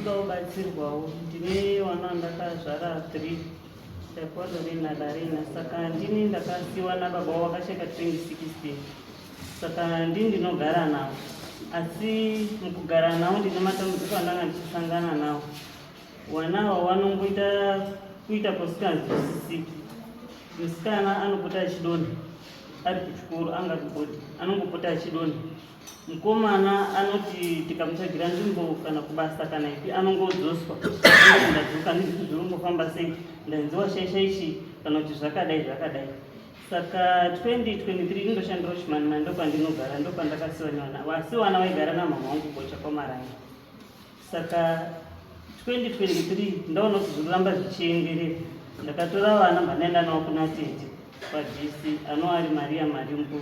Ndoda kubatsirwawo ndine wana andakazvara three Taekwondo Rina Darina saka ndini ndakasiwa nababa wavo vakasheka 2016 saka ndini ndinogara navo asi mukugara navo ndine matambudziko andanga ndichisangana navo wana ava wanongoita kuita kwasikanzwisisiki musikana anopota achidonha ari kuchikoro angati bodi anongopota achidonha Mukomana anoti tikamutsvagira nzvimbo kana kubasa kana ipi anongodzoswa ndadzoka ndizvizvi zviri kungofamba sei ndanziwa shaisha ichi kana kuti zvakadai zvakadai saka 2023 indoshandira chimanimani ndokwandinogara ndokwandakasiwa nevana vasiwana vaigara namhamha wangu bocha kwamaranga saka 2023 ndaona kuti zvikuramba zvichienderera ndakatora vana mhanaenda navo kuna tete kwadc anova ari maria marimbo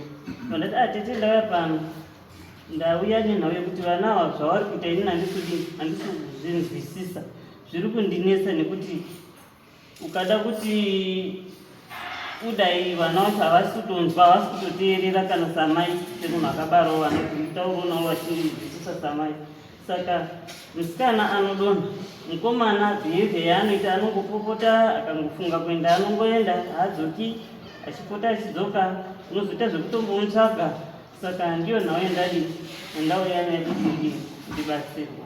vandati a ah, tete ndauya pano ndauya nenhau yekuti vana ava zvavari kuita ini handisudi handisi kuzvinzwisisa zviri kundinetsa nekuti ukada kuti kudai vana vacho havasi kutonzwa havasi kutoteerera kana samai semunhu akabarwa vana kutauronawo vachindidzidzisa samai saka musikana anodonha mukomana behavior yaanoita anongopopota akangofunga kuenda anongoenda haadzoki achipota achidzoka unozoita zvekutombomutsvaga saka ndiyo nhau yandadi andauya nayo kuti ndibatsirwa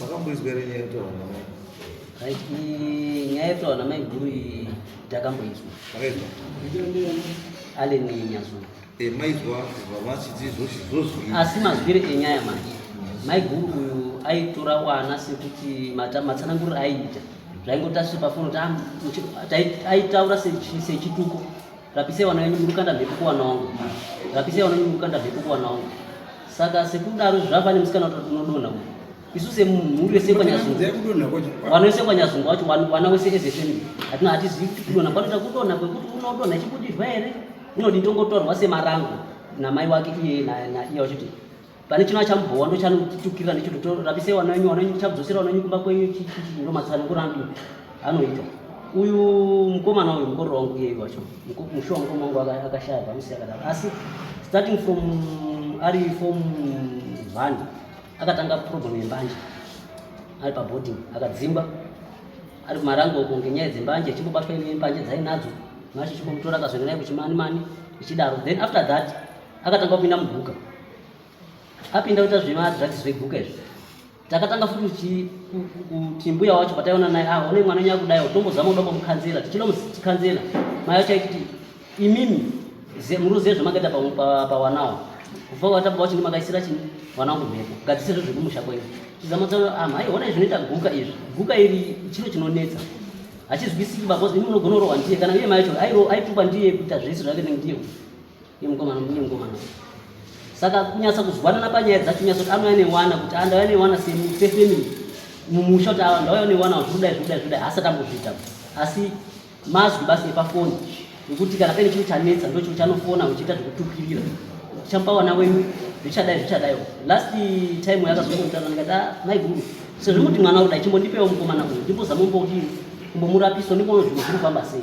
Makamboizwa here nyaya yekutaura namai? Nyaya yekutaura namai guru iyi takamboizwa. Makaizwa? Allen Nyazu. Eh, maizwa vavachiti zvozvizvozvi. Asi mazwire enyaya manje. Mai guru uyu aitora wana sekuti matsananguriro aiita zvaingotasvipa fono aitaura sechituko Rapisei vana venyu murukanda mhepo kuwana wangu. Rapisei vana venyu murukanda mhepo kuwana wangu. Saka sekudaro zvava nemusikana kuti unodonha uyu. Isu semhuri yese kwanyazungu. Vana vese kwanyazungu wacho vana wese ezesemi. Hatina hatizivi kuti kudonha kwanoita kudonha kwekuti unodonha chikudiva here? Unodintongotorwa semarango namai wake iye naiye wachiti pane chino achambowa ndo chanotukirira ndicho totorapise wana wenyu wana wenyu tichakudzosera wana wenyu kumba kwenyu ndo matsano kurandi anoita uyu mukomana uyu mukororo wangu iyeyu wacho mushuwa mukoma wangu akashaya pamusi akadaro asi starting from ari form one akatanga problem yembanje ari paboarding akadzimba ari kumarango uko ngenyaya dzembanje achimbobatwa ine mbanje dzainadzo macho chimbomutora akazoenda naye kuchimanimani ichidaro then after that akatanga kupinda muguka apinda kuita zvemadrugs zveguka izvi takatanga futi kuti mbuya wacho pataiona naye ah one mwana nyaya kudayo tombozama kuda kumukanzela tichinomukanzela mai wacho aititi imimi muruzive zvamakaita pawanawo kubva wata baba wacho ndimakaisira chini mwana wangu mhepo gadzisezvo zvekumusha kwenyu chizama tsa ah mai ona izvi zvinoita guka izvi guka iri chiro chinonetsa hachizwisiki baba imi munogona kurohwa ndiye kana iye mai wacho aituba ndiye kuita zvese zvake ndiye Yemukomana mbuye mukomana. Saka kunyasa kuzwanana panyaya dzacho nyasa kuti anouya newana kuti andauya newana sefamily mumusha kuti awa ndauya newana zvoda zvoda zvoda haasati ambozviita asi mazwi basi epafoni nekuti kana paine chiro chanetsa ndo chiro chanofona uchiita zvekutukirira chapawana wenyu zvichadai zvichadai last time yakazongoitana ndikati ah, mai guru sezvo muti mwana uda chimbondipewo mukomana uyu ndimbozamomboudii kumbomurapiso ndimbono zvinhu zviri kufamba sei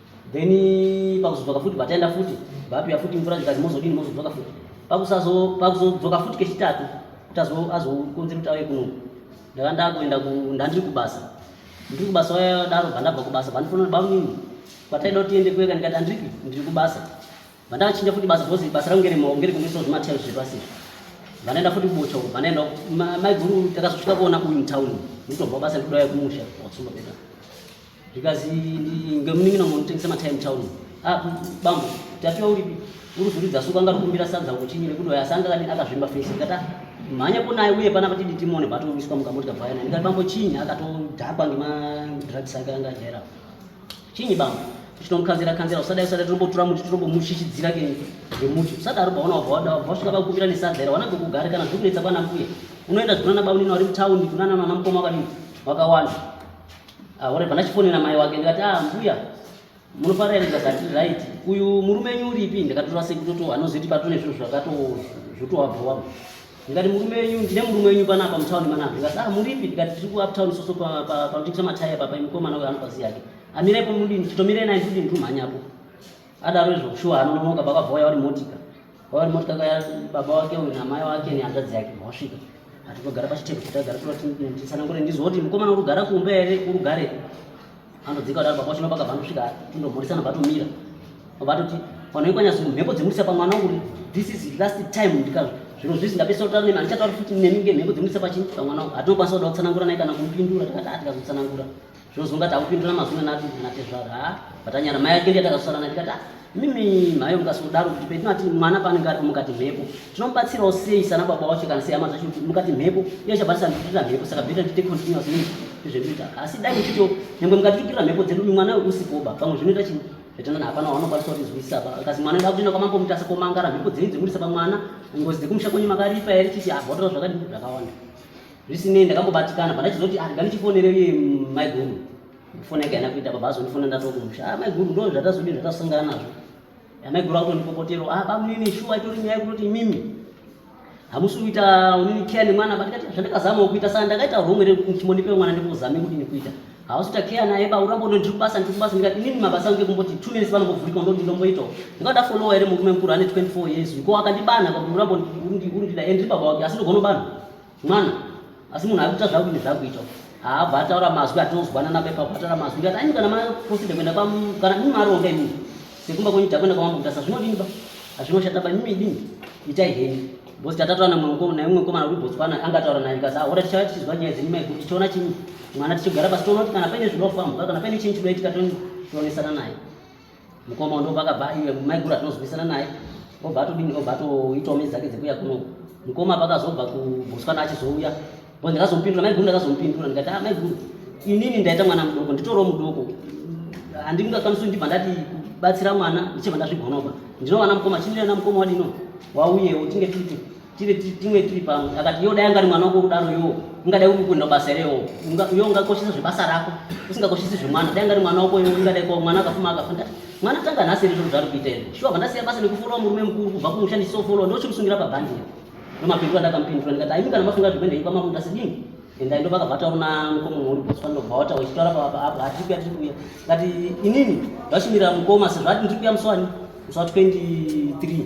then pakuzodzoka futi bataenda futi bapia futi mvura zvikanzi mozodini mozodzoka futi pakuzodzoka futi kechitatu kuti azokonzera kuti auye kuno ndaka ndakuenda ndandiri kubasa ndiri kubasa waya daro bhandabva kubasa bhandifonera bamnini kwataida kuti tiende kueka ndikati andiripi ndiri kubasa bhandakachinja futi basa because basa rangu ngeremaoko ngerekumisawo zvimatel zvepasi vanaenda futi kubocha uko vanaenda maiguru takazosvika kuona uyu mutauni ndikutobva basa ndikudauya kumusha wakusumba peta Because ngemunin'ina munotengesa matime town. Ah, bambo, tatiwa uripi? Uri kuridza suka anga rukumbira sadza kuti nyire kudo yasanga kani akazvimba face kata mhanya kunaye uye pana kuti ditimone bato wiswa mukamoti kabvaya nani kati bambo chinyi akatodhakwa ngema drugs ake anga jera. Chinyi bambo? Chinomukanzira kanzira usada usada tinombotura muti tinombomushishidzira ke ngemuti. Usadaro baona wabva wada wabva swika pakukumbira nesadza ira wanabve kugare kana zvikunetsa kwana mbuya. Unoenda zvigona na baunini wari mutown kunana nana mukoma kwadini? Wakawanda. Aore ah, pana chifonera mai wake ndikati ah mbuya munofara ere ndikati right uyu murume wenyu uripi ndakatora sekutoto anozoti patune zvinhu zvakato zvotowabhowa ndikati murume wenyu ndine murume wenyu panapa mutown manapa ndikati ah muripi ndikati tiri kuuptown soso panotengesa mataya papa imukomana uyo anopazi yake amirepo mudini chitomirei naye ndikudini tumhanyapo adaro izvo shuwa anononoka baba vauya vari motika vauya vari motika kaya baba wake uyu namai wake nehanzvadzi yake vasvika hatikogara pachitebho chitagara tsanangure ndizwa kuti mukomana urugara kumba here urugare anodzika kudaro baba wachino pakabva anosvika tindomhorisana batomira batoti vanoikwanyasi mhepo dzemurisa pamwana uri this is last time ndika zviro zvizi ndapesa kutaura nemi handichatauri futi nemi ngemhepo dzemurisa pachini pamwana hatinokwanisa kuda kutsanangura naye kana kumpindura tikati hatikazotsanangura Zvozonga takupindura mazwi na na tezvara ha vatanyara mai yake ndiyatakasara na tikati mimi mhayo mukasodaro kuti petinati mwana paanenge ari mukati mhepo tinomubatsirawo sei sana baba wacho kana seyama zvacho kuti mukati mhepo iyo ichabatisa ndikutirira mhepo saka beta tiite continuous need izvezvinoita asi dai uchito nyangwe mukati kutirira mhepo dzedu mwana uyu usikoba pamwe zvinoita chi zvetonana hapana wanokwanisa kutizwisisa pa kasi mwana ida kutoenda kwamambo mutasa komangara mhepo dzenyu dzemurisa pamwana ngozi dzekumusha kwenyu makaripa here chiti abhodora zvakadii zvakawanda Zvisinei ndakambobatikana but ndachizoti ah nganichifonere iye maiguru. Foni yake haina kuita baba azondifona ndatokumusha. Ah maiguru ndoo zvatazodii zvatasangana nazvo. Ah, maiguru akutondipopotero ah bamunini shuwa itori nyaya yekutoti imimi hamusi kuita unini care nemwana but ndikati zvandakazamawo kuita saka ndakaita wrong here kuti ndichimondipewo mwana ndikuzame kuti ndikuita hausi kuita care naye ba urambo ndiri kubasa ndiri kubasa ndikati inini mabasa angu ekumboti two minutes vanombovurirwa ndoti ndomboitawo ndikati ndafollowa here murume mukuru ane 24 years ko akandibanha kuti urambo urindida and ndiri baba wake asi ndogonobanha mwana asi munhu akuita zvaku ine zvakuita haabva ataura mazwi atinozwana napa ipapo ataura mazwi ngati aini kana maproside kuenda kana mimi maronga imini sekumba kwenyu takuenda kwamambuta sa zvinodini ba hazvinoshata ba mimi idini itai heni bhosi tatataura naimwe mukomana uri botswana anga ataura naye kasi ahora tichava tichizwa nyaya dzenyu mai kuti tichiona chii mwana tichigara pasi toona kuti kana paine zvinofambuka kana paine chinyi chinoitika tonesana naye mukoma uno pakabva iwe maiguru atinozwisana naye obva atodini obva atoitawo mezi dzake dzekuya kuno mukoma pakazobva kubhuswana achizouya bo ndikazomupindura maiguru ndakazomupindura ndikati a ah, maiguru inini ndaita mwana mudoko nditoro mudoko handingakwanisi ndibva ndati kubatsira mwana ndichibva ndazvigonobva ndinowana mukoma chindirana mukoma wadino wauyewo tinge titi tive timwe tiri pamwe akati yo dai angari mwana wako kudaro yo ungadai uri kuenda basa here yo yo ungakoshesa zvebasa rako usingakoshesi zvemwana dai angari mwana wako yo ungadai ko mwana akafuma akafunda mwana tanga nhasi iri zviro zvari kuita izvo shuwa vandasiya basa nekufora murume mukuru kubva kumushandisi sofolo ndochimusungira pabhandi iri nomapindu andakamupindura ndikati aimi kana mafunga zvekuenda ipa mamuta sidini endai ndo vakavataura na mukoma mhuri botswana ndobva wataura ichitaura pavapa apo hatiri kuya tiri kuya ngati inini vachimirira mukoma sezvati ndiri kuya muswani muswa 23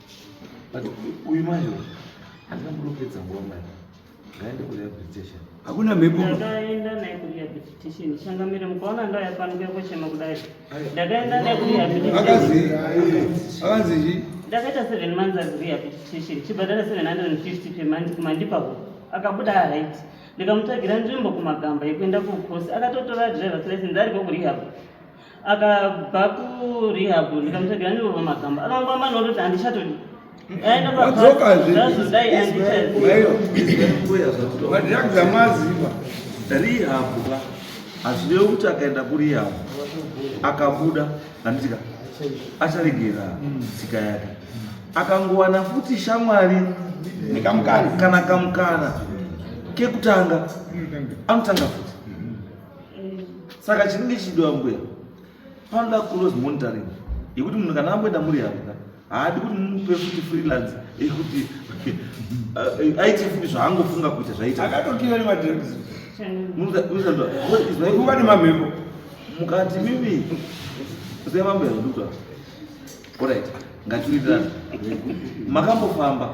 But uyu mai uyu handina munopedza nguva mai ngaende kurehabilitation. Hakuna mhepo. Ndakaenda naye kurehabilitation. Changamire mukaona ndo yafanika kuchema kudai. Ndakaenda naye kurehabilitation. Akazi akazi zhi. Ndakaita 7 months as rehabilitation. Chibhadhara 750 per month kumandipa ko. Akabuda right. Ndikamutsvagira nzvimbo kumagamba yekuenda ku course. Akatotora driver's license ari ko kurehab. akabva kurehab ndikamutsvagira ndirova magamba akangwamba nondoti handichatodi aendazodai andichazodaiaamaziva rehab ka hazvirevi kuti akaenda kurehab akabuda handitika acharegera tsika yake akangowana futi shamwari kana kamukana kekutanga anotanga futi saka chinenge chichidiwa mbuya panoda close monitoring yekuti munhu kana amboenda muri yanga haadi kuti mupe futi freelance yekuti aite futi zvaangofunga kuita zvaitaakatokiva nemadremuka nemamhepo mukati mimi zai mambo yaududwa orit ngatiwirirana makambofamba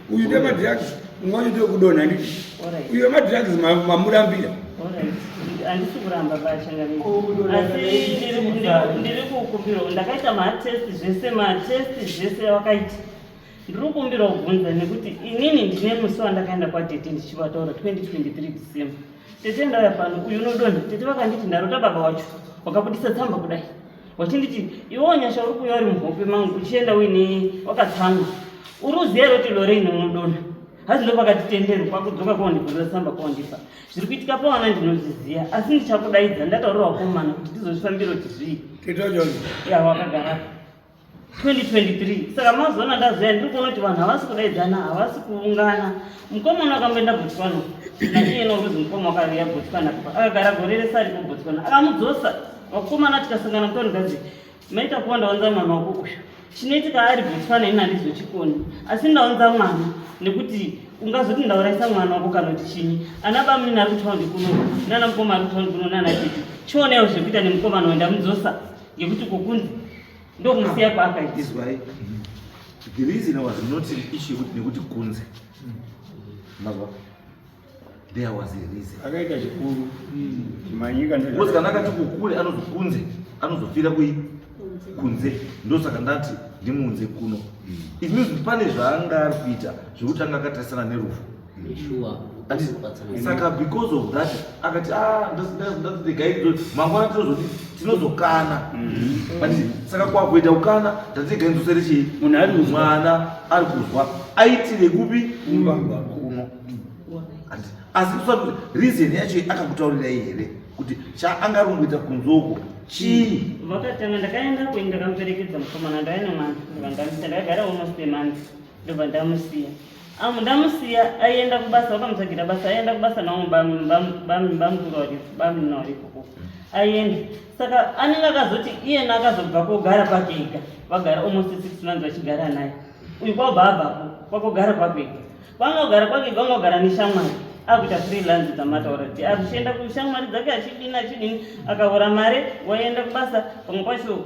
uyu ndemadrugs umwe wacho ndokudonha nditi uyo madrugs mamurambira handisi kuramba bachangandiri kukumbirwa ndakaita matest zvese matest zvese wakaita ndiri kukumbira kubvunza nekuti inini ndine musi wandakaenda kwadete ndichivataura 2023 december tete ndauya pano uyu unodonha tete vakanditi ndarota baba wacho wakabudisa tsamba kudai wachinditi iwewo nyasha uri kuuya uri muhope mangu uchienda uine wakatsamwa uri uziva here kuti lore ine unodona hanzi ndo pakati tendero kwakudzoka kwaundibvunza tsamba kwaundipa zviri kuitika pawana ndinozviziva asi ndichakudaidza ndataurira wakomana kuti ndizozvifambiro kuti zvii ya wakagarapo 2023 saka mazoona ndazoya ndiri kuona kuti vanhu havasi kudaidzana havasi kuungana mukoma uno akamboenda botswana naiye nokuzi mukoma wakaviya botswana akagara gore rese ari kubotswana akamudzosa vakomana tikasangana mutori gazi maita kuva ndaunza mwana wako kusha chinoitika ari botswana ini handizochikoni asi ndaunza mwana nekuti ungazoti ndauraisa mwana wako kana kuti chinyi ana bamini ari kutaundi kuno nana mukoma ari kutaundi kuno nana tete chionewo zvekuita nemukomana wenda mudzosa ngekuti kokunzi ndomusiya kwaakaita izwai the reason i was not an issue yekuti nekuti kunze mazwa there was a reason akaita chikuru chimanyika because kana akati kukule anozokunze anozofira kui kunze ndosaka ndati ndimunze kuno it means pane zvaanga ari kuita zvekuti anga akatarisana nerufu saka because of that akati ah, mangwana tinozoti tinozokana mm-hmm. saka kwakuita kukana ndatigainzosere chii mwana ari kuzwa aitire kupi kuno asi kusati reason yacho akakutaurira here kuti chaanga ari kungoita kunzoko chii vakatanga ndakaenda kuini ndakamuperekedza mukomana ndainemwana ndikandamisa ndakagara uno spemanzi ndobva ndamusiya Amu ndamusiya aienda kubasa vakamutsvagira basa aienda kubasa navo bamukuru variko bamuna variko ko aienda saka anenge akazoti iyena akazobva kogara kwake ega vagara almost six months vachigara naye uyu kwabva abvapo kwakogara kwake ega kwanga kugara kwake ega anga kugara neshamwari akuita freelance dzamataura ti akuchienda kushamwari dzake achidini achidini akavhura mari waienda kubasa pamwe kwacho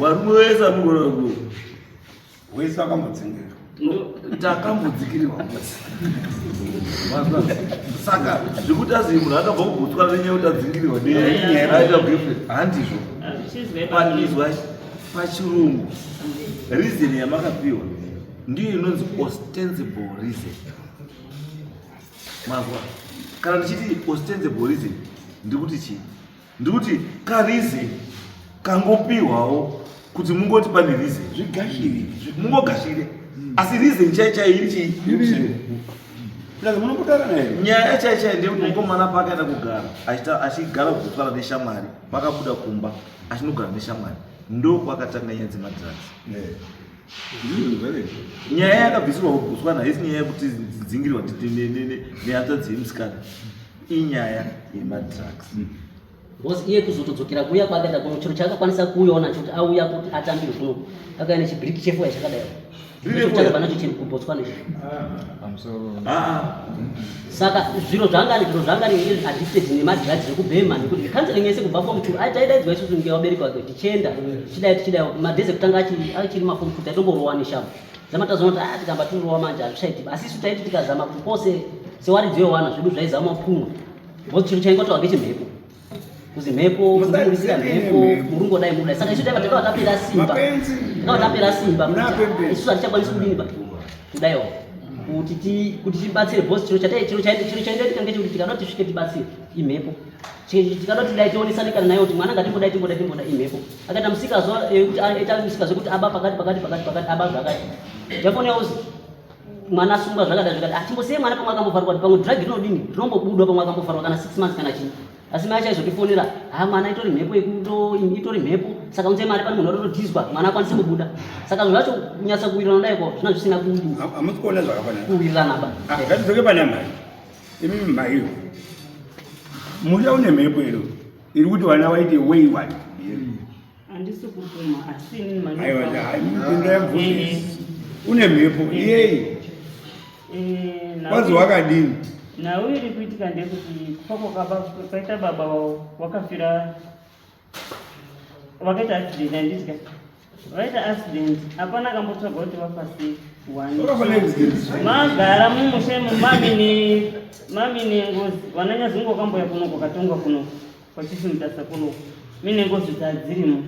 varume vese anogona ku wese akambodzingirwa takambodzikirirwa mose saka zvekuti azivi munhu akabva kugutswa nenyaya kuti adzingirirwa neaita girlfriend handizvo panizwa pachirungu reason yamakapiwa ndiyo inonzi ostensible reason mazwa kana ndichiti ostensible reason ndikuti chii ndikuti karize kangopihwawo kuti mungoti pane rize zvigashire mungogashire hmm. asi rize chai chai iri chii nyaya chai chai ndeyekuti mukomana paakaenda kugara achigara kuzotwara neshamwari pakabuda kumba achinogara neshamwari ndokwakatanga nyaya dzemadrags nyaya yakabvisirwa kuguswana haisi nyaya yekuti dzingirwa nehanzvadzi yemusikana inyaya yemadrugs mm. bcause iye kuzotodzokera kuya kwaakaita kuno chiro chaakakwanisa kuuyawo nacho kuti auya kuti atambire kuno akauya nechibiriki chefuya chakadai chakabva nacho chiri kubotswana ichi ah. ah, ah. saka zviro zvangani zviro zvangani is addicted nemadrugs ekubhema nekuti zvecounseling yese kubva form two taidaidzwa isusu nge vabereki vake tichienda tichidai tichidai madhezi ekutanga achiri maform two taitomborowa neshambo zama tazoona kuti a ah, tikamba tinorowa manje hazvichaitiba asi isu taiti tikazama kuti pose sewaridziwe wana zvedu zvaizama pfumwa because chiro chaingotawa ngechimhepo kuzi mhepo kuzvikurisira mhepo murungu dai muda saka isu taiva takava tapera simba takava tapera simba isu hatichakwanisi kudini ba kudaiwo kuti ti kuti tibatsire boss chiro chatai chiro chaiti chiro chaiti tikanga chikuti tikada kuti svike tibatsire imhepo tikada kuti dai tionesane kana nayo kuti mwana ngatimboda timboda timboda imhepo akaita musika zuva eh, kuti aita musika zvekuti aba pakati pakati pakati pakati aba zvakati jafoneuzi mwana asungwa zvakada zvakada hatingosiye mwana pamwe akambofarwa kuti pamwe drug rinodini rinombobudwa pamwe akambofarwa kana six months kana chii asi mai chaizotifonera ha mwana itori mhepo itori mhepo saka unze mari pane munhu atotodhizwa mwana akwanise kubuda saka zvinhu zvacho kunyatsa kuwirirana dai ko zvina zvisina kuwirirana ba ah, ngatidzoke pana mai imi maiyo musha une mhepo iro iri kuti vana vaite way one Andisi kubvuma asi inini mani. Aiwa dai mukunda yamvuni. Une mhepo yei? Eh, Wazi wakadini? Nawo iri kuitika ndekuti kwako kaba kwaita baba wao wakafira vakaita accident andidya vaita accident hapana akambotsvaga kuti vafasi magara mumushe mumamine mamine ngozi vananyazungu wakamboya kunoko katongwa kunoko Vachisimudza sakuru mine ngozi dzadzirimo.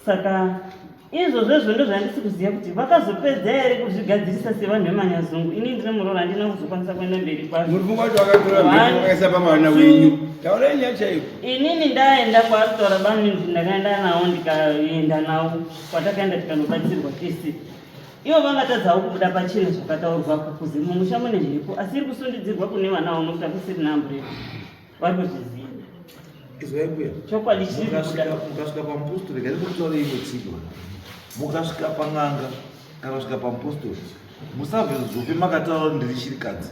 Saka izvo zvezvo ndozvandisi kuziva kuti vakazopedza here kuzvigadzirisa sevanhu vemanyazungu ini ndine muroora handina kuzokwanisa kuenda mberi kwazvoinini ndaenda kwaatotaura bamnindi ndakaenda navo ndikaenda navo kwatakaenda tikanobatsirwa tese Ivo vangatadzawo kubuda pachine zvakataurwa kukuzi mumusha mune mhepo asi iri kusundidzirwa kune vana vanokuta kusirina amburera vari kuzviziva izwai kuya chokwadi chiri kubuda mukasvika pamupostori gari kutaura imwe tsiko mukasvika pan'anga kana kusvika pamupostori musave zope makataura ndiri shirikadzi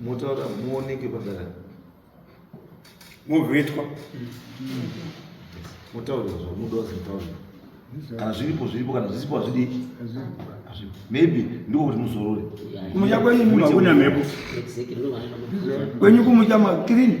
motaura muoneke padara movhetwa motaura zvamuda zvotaura kana zviripo zviripo kana zvisipo hazvidi maybe ndiko kuti muzorore kumutya kwenyu munhu hakuna mhepo kwenyu kumutya makirini